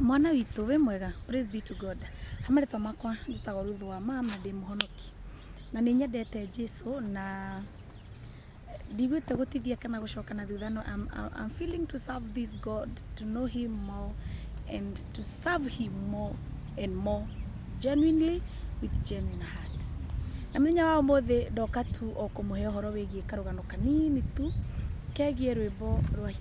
Mwana witũ wĩ mwega? Praise be to God. He marĩtwa makwa njĩtagwo Ruth Wama na ndĩ mũhonoki. Na nĩ nyendete Jesu na ndigwĩte gũtithia kana gũcoka na thutha no I'm, I'm feeling to serve this God, to know him more and to serve him more and more genuinely with genuine heart. Na mũthenya wa ũmũthĩ ndoka tu o kũmũhe ũhoro wĩgiĩ karũgano kanini tu kegiĩ rwĩmbo rwa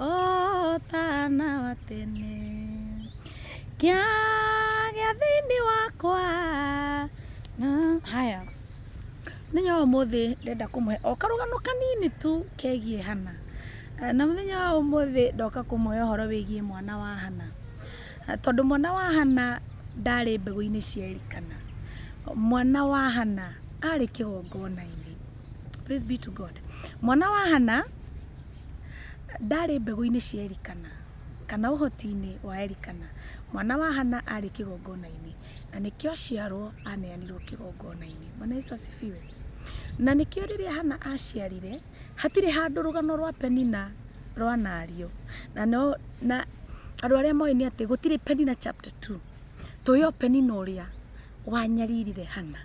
O ta na wa tene. Kĩagĩa thĩinĩ wakwa. Haya, mũthenya wa ũmũthĩ ndĩrenda kũmũhe o karũgano kanini tu kegiĩ Hana. Na mũthenya wa ũmũthĩ ndoka kũmũhe ũhoro wĩgiĩ mwana wa Hana. Tondũ mwana wa Hana ndarĩ mbegũ-inĩ cia Elikana. Mwana wa Hana arĩ kĩgongona-inĩ. Praise be to God. Mwana wa Hana... Ndarĩ mbegũ-inĩ cia Elikana, kana ũhoti-inĩ wa Elikana, mwana wa Hana arĩ kĩgongona-inĩ, na nĩkĩo aciarwo aneanirwo kĩgongona-inĩ. Bwana Yesu asifiwe. Na nĩkĩo rĩrĩa Hana aciarire, hatirĩ handũ rũgano rwa Penina rwanario. Na no, na andũ arĩa moĩ nĩ atĩ gũtirĩ Penina chapter two. Tũĩ o Penina ũrĩa wanyaririre Hana.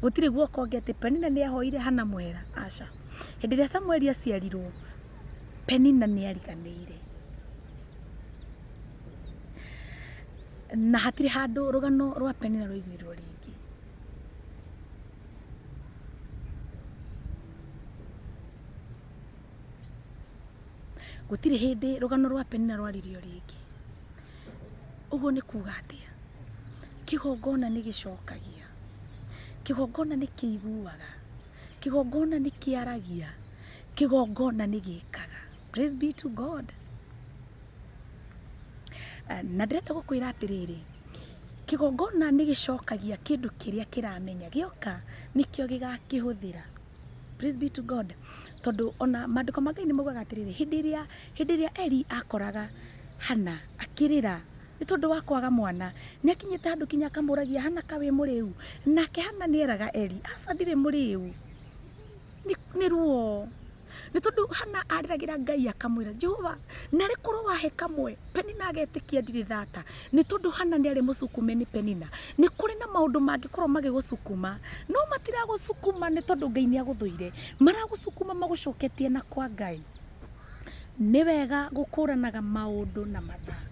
Gũtirĩ guoka ũngĩ atĩ Penina nĩ ahoire Hana mũhera, aca. hĩndĩ ĩrĩa samueli aciarirwo penina nĩ ariganĩire na hatirĩ handũ rũgano rwa penina rũiguirwo rĩngĩ gũtirĩ hĩndĩ rũgano rwa penina rwaririo rĩngĩ ũguo nĩ kuga atĩa kĩgongona nĩ gĩcokagia kĩgongona nĩ kĩiguaga kĩgongona nĩ kĩaragia kĩgongona nĩ gĩkaga praise be to god na ndĩrenda gũkwĩra atĩrĩrĩ kĩgongona nĩ gĩcokagia kĩndũ kĩrĩa kĩramenya gĩoka nĩkĩo gĩgakĩhũthĩra praise be to god tondũ ona maandĩko ma ngai nĩ maugaga atĩrĩrĩ hĩndĩ ĩrĩa hĩndĩ ĩrĩa eli akoraga hana akĩrĩra Nĩ tondũ wa kwaga mwana, nĩ akinyĩte handũ kinya akamũragia, Hana ka wĩ mũrĩu? Nake Hana nĩ eraga Eli, Aca ndirĩ mũrĩu, nĩ ruo. Nĩ tondũ Hana arĩragĩra Ngai akamwĩra, Jehova, narĩ korwo wahe kamwe, Penina agetĩkia ndirĩ thata. Nĩ tondũ Hana nĩ arĩ mũcukume nĩ Penina. Nĩ kũrĩ na maũndũ mangĩkorwo magĩgũcukuma, no matiragũcukuma nĩ tondũ Ngai nĩ agũthũire, maragũcukuma magũcoketie na kwa Ngai. nĩ wega gũkũranaga maũndũ na mathaa.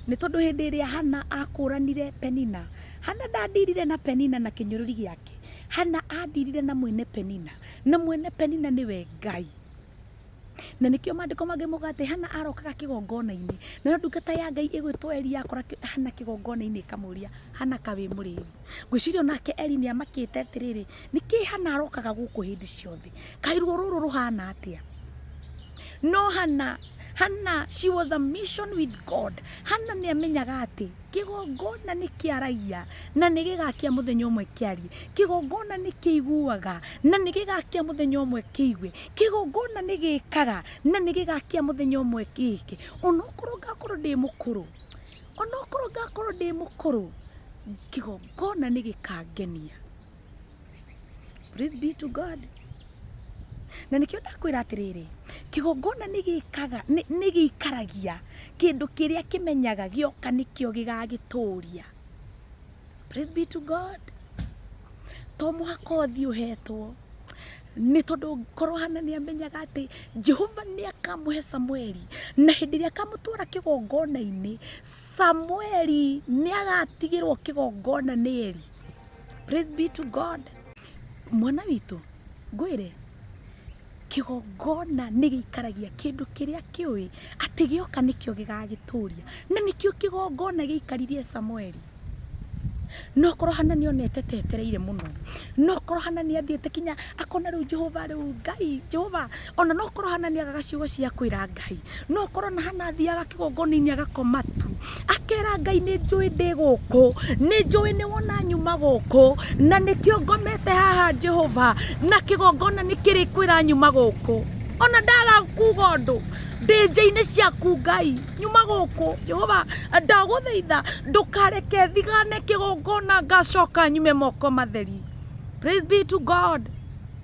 Nĩ tondũ hĩndĩ ĩrĩa Hannah akũranire Penina, Hannah ndandirire na Penina na kĩnyũrũri gĩake. Hannah andirire na mwene Penina, na mwene Penina nĩwe Ngai. Na nĩkĩo maandĩko mangĩ mauga atĩ Hannah arokaga kĩgongona-inĩ, nayo ndungata ya Ngai ĩgwĩtwo Eli yakora Hannah kĩgongona-inĩ ĩkamũria, Hannah kaĩ wĩ mũrĩĩu? Ngwĩciria o nake Eli nĩ amakĩte atĩrĩrĩ... nĩkĩ hana arokaga gũkũ hĩndĩ ciothe kairuo rũrũ rũhana atĩa no hana hana she was a mission with god hana nĩ amenyaga atĩ kĩgongona nĩ kĩaragia na nĩ gĩgakia mũthenya ũmwe kĩarie kĩgongona nĩ kĩiguaga na nĩ gĩgakia mũthenya ũmwe kĩigue kĩgongona nĩ gĩkaga na nĩ gĩgakia mũthenya ũmwe kĩke onokorwo ngakorwo ndĩ mũkũrũ onokorwo ngakorwo ndĩ mũkũrũ kĩgongona nĩ gĩkangenia Praise be to God. Na nĩkĩo ndakwĩra atĩrĩrĩ, kĩgongona nĩ gĩkaga nĩ nĩ gĩikaragia kĩndũ kĩrĩa kĩmenyaga gĩoka nĩkĩo gĩgagĩtũria. Praise be to God. To mũhaka ũthiĩ ũhetwo nĩ tondũ korwo hana nĩ amenyaga atĩ jehova nĩ akamũhe samueli na hĩndĩ ĩrĩa akamũtwara kĩgongona-inĩ samueli nĩ agatigĩrwo kĩgongona nĩ eri Praise be to God. Mwana witũ, ngwĩre, kĩgongona nĩ gĩikaragia kĩndũ kĩrĩa kĩũĩ atĩ gĩoka nĩkĩo gĩgagĩtũria. Na nĩkĩo kĩgongona gĩaikaririe Samueli. No korwo Hana nĩ onete ta etereire mũno. No korwo Hana nĩ athiĩte kinya akona rĩu Jehova rĩu Ngai, Jehova ona no korwo hana nĩ agaga ciugo cia kwĩra ngai no korwo na hana athiaga kĩgongona-inĩ agakoma tu akera ngai nĩ njũĩ ndĩ gũkũ nĩ njũĩ nĩ wona nyuma gũkũ na nĩkĩo ngomete haha jehova na kĩgongona nĩ kĩrĩ kwĩra nyuma gũkũ ona ndaga kuga ũndũ ndĩnja-inĩ ciaku ngai nyuma gũkũ jehova ndagũthaitha ndũkareke thigane kĩgongona ngacoka nyume moko matheri praise be to god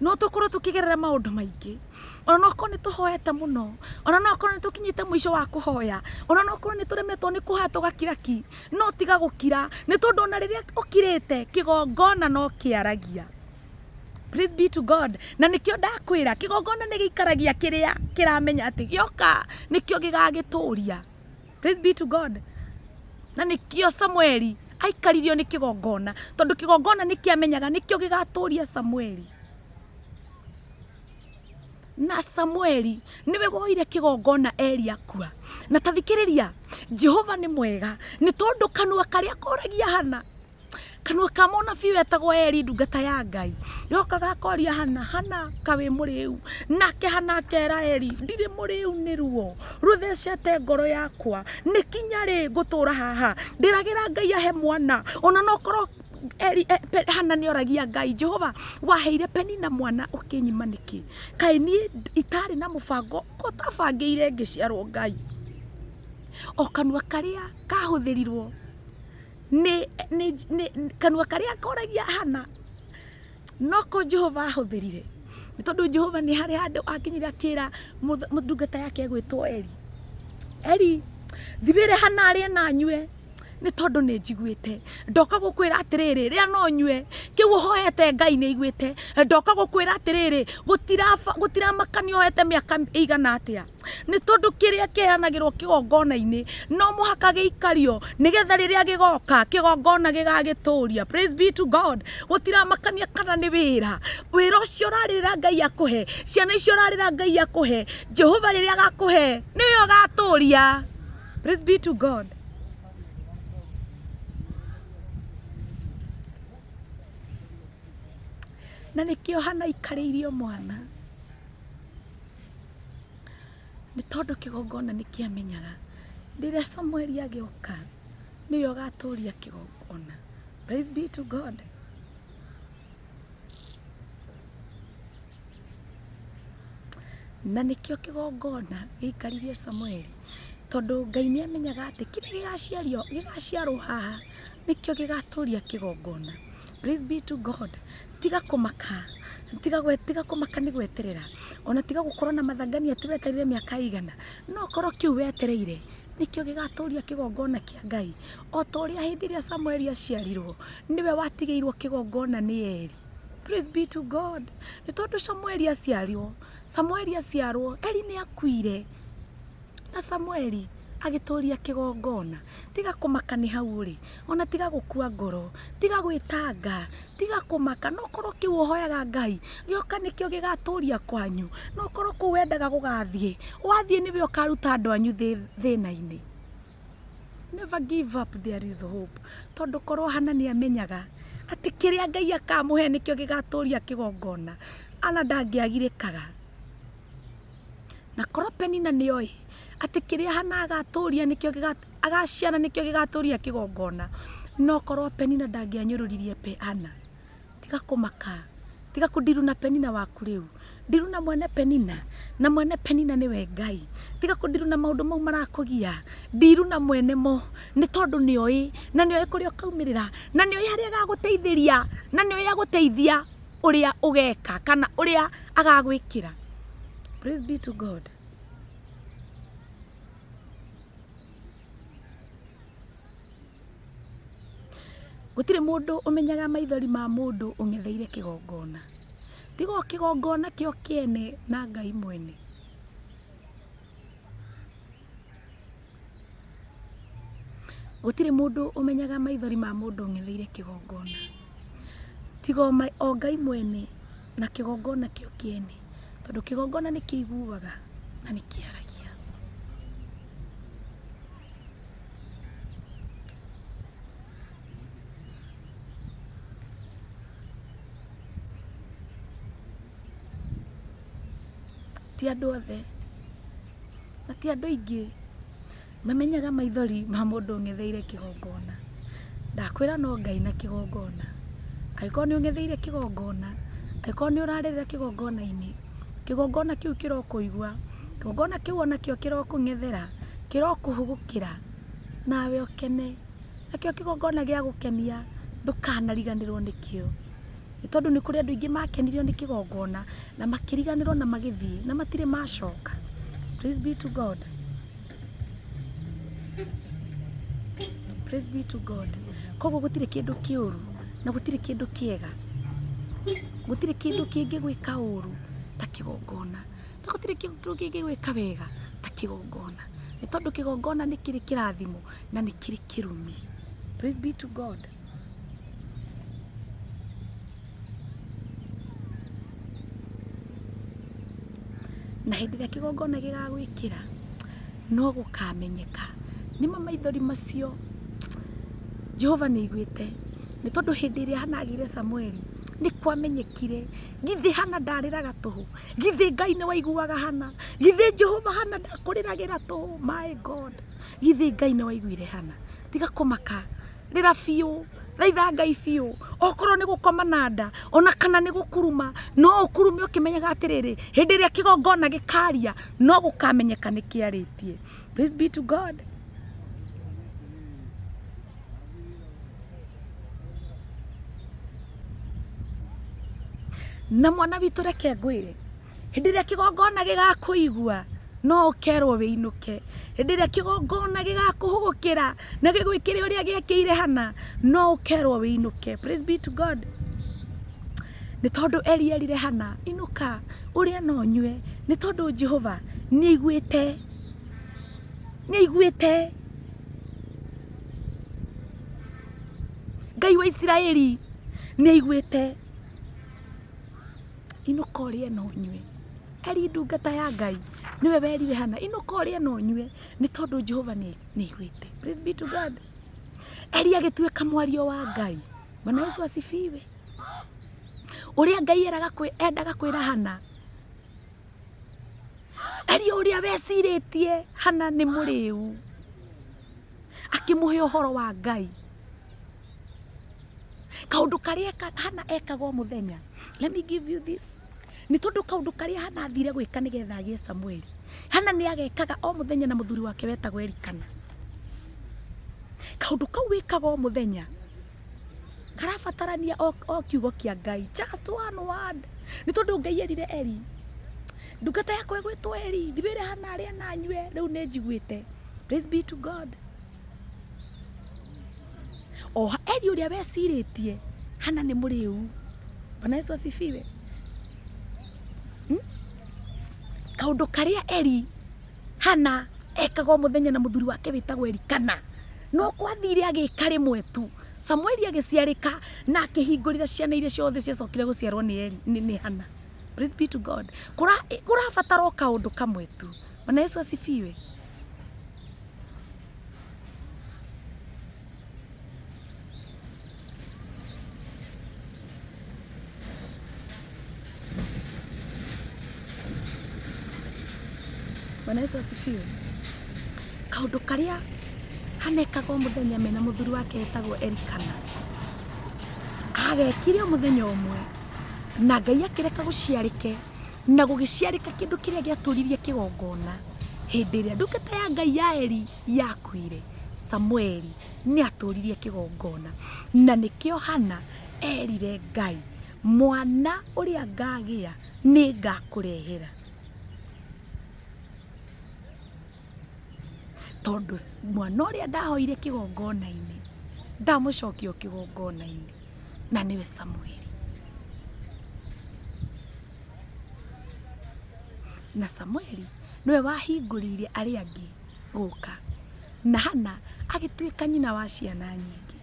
No tũkorwo tũkĩgerera maũndũ maingĩ, ona no korwo nĩ tũhoete mũno, ona no korwo nĩ tũkinyĩte mũico wa kũhoya, ona no korwo nĩ tũremetwo nĩ kũhoya tũgakira ki, no tiga gũkira, nĩ tondũ ona rĩrĩa ũkirĩte, kĩgongona no kĩaragia. Praise be to God. Na nĩkĩo ndakwĩra, kĩgongona nĩ gĩikaragia kĩrĩa kĩramenya atĩ gĩoka nĩkĩo gĩgagĩtũria. praise be to god na nĩkĩo samueli aikaririo nĩ kĩgongona tondũ kĩgongona nĩ kĩamenyaga nĩkĩo gĩgatũria samueli na samueli nĩwe woire kĩgongona eli akua na tathikĩrĩria jehova nĩ mwega nĩ tondũ kanua karĩa koragia hana kanua ka mũnabii wetagwo Eli ndungata ya Ngai yoka gakoria hana hana kawĩ mũrĩu nake hana akera Eli ndirĩ mũrĩu nĩ ruo rũthecete ngoro yakwa nĩ kinya rĩ ngũtũra haha ndĩragĩra Ngai ahe mwana ona no korwo Eli e, pe, hana nĩ oragia Ngai Jehova waheire Penina mwana ũkĩnyima nĩkĩ kaĩ niĩ itarĩ na mũbango ko tabangĩire ngĩciarwo Ngai o kanua karĩa kahũthĩrirwo nĩ nĩ nĩ kanua karĩa koragia hana noko jehova ahũthĩrire nĩ tondũ jehova nĩ harĩ handũ akinyire akĩra mũth- mũ- ndungata yake gwĩtwo eri eri thibĩre hana arĩe na nyue nĩ tondũ nĩ njiguĩte ndoka gũkwĩra atĩrĩrĩ rĩa no nyue kĩu ũhoete ngai nĩ aiguĩte ndoka gũkwĩra atĩrĩrĩ gũtiraba- gũtiramakania ũhoete mĩaka ĩigana atĩa nĩ tondũ kĩrĩa kĩheanagĩrwo kĩgongona-inĩ no mũhaka gĩikario nĩgetha rĩrĩa gĩgoka kĩgongona gĩgagĩtũria praise be to god gũtiramakania kana nĩ wĩra wĩra ũcio ũrarĩrĩra ngai akũhe ciana icio ũrarĩra ngai akũhe jehova rĩrĩa agakũhe nĩwe ũgatũria praise be to god na nĩkĩo hana aikarĩirio mwana Nĩ tondũ kĩgongona nĩ kĩamenyaga rĩrĩa Samueli agĩũka nĩwe ũgatũria kĩgongona. Praise be to God. Na nĩkĩo kĩgongona gĩikaririe Samueli tondũ Ngai nĩ amenyaga atĩ kĩrĩa gĩgaciario gĩgaciarwo haha nĩkĩo gĩgatũria kĩgongona. Praise be to God. Tiga kũmaka tiga gwe tiga kũmaka nĩ gweterera ona tiga gũkorwo na mathangania atĩ wetereire mĩaka ĩigana no korwo kĩu wetereire nĩkĩo gĩgatũria kĩgongona kĩa ngai o ta ũrĩa hĩndĩ ĩrĩa samueli aciarirwo nĩwe watigĩirwo kĩgongona nĩ eli Praise be to God. Nĩ tondũ Samueli aciarirwo, Samueli aciarwo, Eli nĩ akuire. Na Samueli agĩtũũria kĩgongona, tiga kũmaka nĩ hau ũrĩ, ona tiga gũkua ngoro, tiga gwĩtanga, tiga kũmaka, no korwo kĩu ũhoyaga Ngai, gĩoka nĩkĩo gĩgatũũria kwanyu, no korwo kũu wendaga gũgathiĩ, wathiĩ nĩwe ũkaruta andũ anyu thĩna-inĩ. Never give up there is hope, tondũ korwo Hana nĩ amenyaga atĩ kĩrĩa Ngai akamũhe nĩkĩo gĩgatũũria kĩgongona, Hana ndangĩagirĩkaga. Na korwo Penina nĩoĩ atĩ kĩrĩa Hana agatũria nĩkĩo gĩga- agaciara nĩkĩo gĩgatũria kĩgongona, no korwo Penina ndangĩanyũrũririe Pe- Hana. Tiga kũmaka, tiga kũndiru na Penina waku rĩu. Ndiru na mwene Penina, na mwene Penina nĩwe Ngai. Tiga kũndiru na maũndũ mau marakũgia, ndiru na mwene mo, nĩ tondũ nĩoĩ, na nĩoĩ kũrĩa ũkaumĩrĩra, na nĩoĩ harĩa agagũteithĩria, na nĩoĩ agũteithia. ũrĩa ũgeka kana ũrĩa agagwĩkĩra praise be to god gũtirĩ mũndũ ũmenyaga maithori ma mũndũ ũng'etheire kĩgongona tiga o kĩgongona kĩo kĩene na ngai mwene Gũtirĩ mũndũ ũmenyaga maithori ma mũndũ ũng'etheire kĩgongona, tiga o Ngai mwene na kĩgongona kĩo kĩene, tondũ kĩgongona nĩ kĩiguaga na nĩ kĩaragia. Ti andũ othe. na ti andũ aingĩ mamenyaga maithori ma mũndũ ũng'etheire kĩgongona. Ndakwĩra no Ngai na kĩgongona. Angĩkorwo nĩ ũng'etheire kĩgongona, angĩkorwo nĩ ũrarĩrĩra kĩgongona-inĩ, kĩgongona kĩu kĩrokũigua, kĩgongona kĩu ona kĩo kĩrokũng'ethera, kĩrokũhũgũkĩra nawe ũkene. Nakĩo kĩgongona gĩa gũkenia ndũkanariganĩrwo nĩkĩo. nĩ tondũ nĩ kũrĩ andũ aingĩ makenirio nĩ kĩgongona na makĩriganĩrwo na magĩthiĩ na matirĩ macoka. Praise be to God. Praise be to God. Koguo gũtirĩ kĩndũ kĩũru na gũtirĩ kĩndũ kĩega, gũtirĩ kĩndũ kĩngĩ gwĩka ũru ta kĩgongona na gũtirĩ kĩndũ kĩngĩ gwĩka wega ta kĩgongona, nĩ tondũ kĩgongona nĩ kĩrĩ kĩrathimo na nĩ kĩrĩ kĩrumi. Praise be to God. na hĩndĩ ĩrĩa kĩgongona gĩgagwĩkĩra no gũkamenyeka nĩma maithori macio jehova nĩ aiguĩte nĩ tondũ hĩndĩ ĩrĩa hana agĩire samueli nĩ kwamenyekire githĩ hana ndarĩraga tũhũ githĩ ngai nĩ waiguaga hana githĩ jehova hana ndakũrĩragĩra tũhũ my god githĩ ngai nĩ waiguire hana tiga kũmaka rĩra biũ thaitha ngai biũ okorwo nĩ gũkoma na nda ona kana nĩ gũkuruma no ũkurume ũkĩmenyaga atĩrĩrĩ hĩndĩ ĩrĩa kĩgongona gĩkaria no gũkamenyeka nĩ kĩarĩtie praise be to god na mwana witũ reke ngwĩre hĩndĩ ĩrĩa kĩgongona gĩgakũigua no ũkerwo wĩinũke hĩndĩ ĩrĩa kĩgongona gĩgakũhũgũkĩra na gĩgwĩkĩre ũrĩa gĩekĩire hana no ũkerwo wĩinũke praise be to god nĩ tondũ eli erire hana inũka ũrĩa na ũnyue nĩ tondũ jehova nĩ aiguĩte nĩ aiguĩte ngai wa isiraeli nĩ aiguĩte inũka ũrĩe na ũnyue. Eli ndungata ya Ngai nĩwe werire Hana, inũka ũrĩe na ũnyue nĩ tondũ Jehova nĩ aiguĩte. Praise be to God. Eli agĩtuĩka mwario wa Ngai. Bwana Yesu asifiwe. Ũrĩa Ngai eraga kwĩ- endaga kwĩra Hana, Eli ũrĩa wecirĩtie Hana nĩ mũrĩu, akĩmũhe ũhoro wa Ngai. kaundu karia hana ekaga o muthenya let me give you this ni tondu kaundu karia hana athire gwika nigetha agie samueli hana ni agekaga o muthenya na muthuri wake wetagwo elikana kaundu kau wikaga o muthenya karabatarania o o kiugo kia ngai just one word ni tondu ngai erire eli ndungata yakwa igwitwo eli thibire hana aria nanyue riu ni njiguite praise be to god o Eli ũrĩa wecirĩtie hana nĩ mũrĩu bwana yesu asifiwe kaundu karia eri hana ekagwo muthenya na muthuri wake witagwo erikana no kwathire agika rimwe tu samueli agiciarika na akihingurira ciana iria ciothe ciacokire guciarwo ni eri ni, ni hana praise be to god kurabatara o kaundu kamwe tu bwana yesu asifiwe Bwana Yesu asifiwe. Kaũndũ karĩa hanekaga o mũthenya mena mũthuri wake etagwo Elikana agekire o mũthenya ũmwe na Ngai akĩreka gũciarĩke Na gũgĩciarĩka kĩndũ kĩrĩa gĩatũririe kĩgongona hĩndĩ ĩrĩa ndungata ya Ngai ya Eli yakuire, Samueli nĩ atũririe kĩgongona. Na nĩkĩo Hana erire Ngai, mwana ũrĩa ngagĩa nĩ ngakũrehera. Tondũ mwana ũrĩa ndahoire kĩgongona-inĩ ndamũcokia o kĩgongona-inĩ. na nĩwe Samueli. Na Samueli nĩwe wahingũrĩire arĩa angĩ gũka, na Hana agĩtuĩka nyina wa ciana nyingĩ.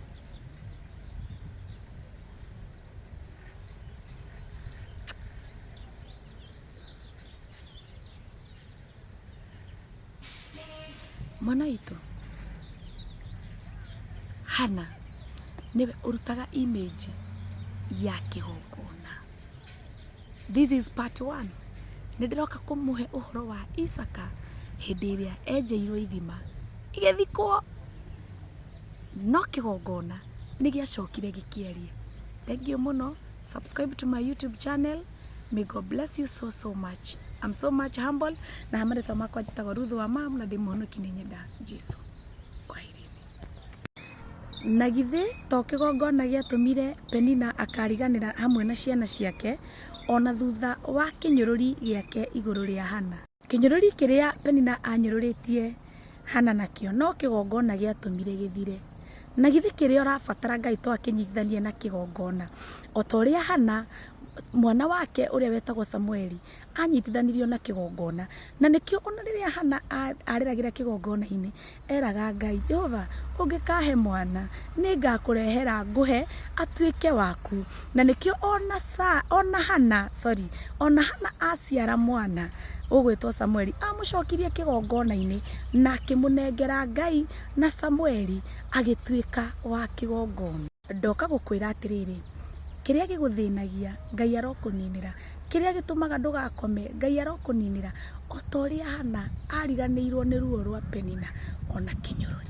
Mwana witũ, Hana nĩwe ũrutaga image ya kĩgongona. This is part one. Nĩ ndĩroka kũmũhe ũhoro wa Isaka hĩndĩ ĩrĩa enjeirwo ithima igĩthikwo. No kĩgongona nĩ gĩacokire gĩkĩarie. Thengiũ mũno, subscribe to my YouTube channel. May God bless you so so much. I'm so much humble na hamarĩtwa makwa njĩtagwo Ruth wa mam na ndĩ mũhonoki nĩ nyenda Jesu. Kwaherini. Na githĩ to kĩgongona gĩatũmire Penina akariganĩra hamwe na ciana ciake o na thutha wa kĩnyũrũri gĩake igũrũ rĩa Hana? Kĩnyũrũri kĩrĩa Penina aanyũrũrĩtie Hana nakĩo no kĩgongona gĩatũmire gĩthire. Na githĩ kĩrĩa ũrabatara Ngai to akĩnyitithanie na kĩgongona? O ta ũrĩa Hana, mwana wake ũrĩa wetagwo Samueli, aanyitithanirio na kĩgongona. Na nĩkĩo o na rĩrĩa Hana arĩragĩra kĩgongona-inĩ, eraga Ngai, Jehova, ũngĩkahe mwana, nĩ ngakũrehera ngũhe atuĩke waku. Na nĩkĩo ona Sa- ona Hana, sorry, ona Hana aciara mwana ũgwĩtwo Samueli, amũcokirie kĩgongona-inĩ na akĩmũnengera Ngai na Samueli agĩtuĩka wa kĩgongona. Ndoka gũkwĩra atĩrĩrĩ, kĩrĩa gĩgũthĩnagia, Ngai arokũninĩra, kĩrĩa gĩtũmaga ndũgakome, Ngai arokũninĩra, o ta ũrĩa Hana ariganĩirwo nĩ ruo rwa Penina, o na kĩnyũrũri.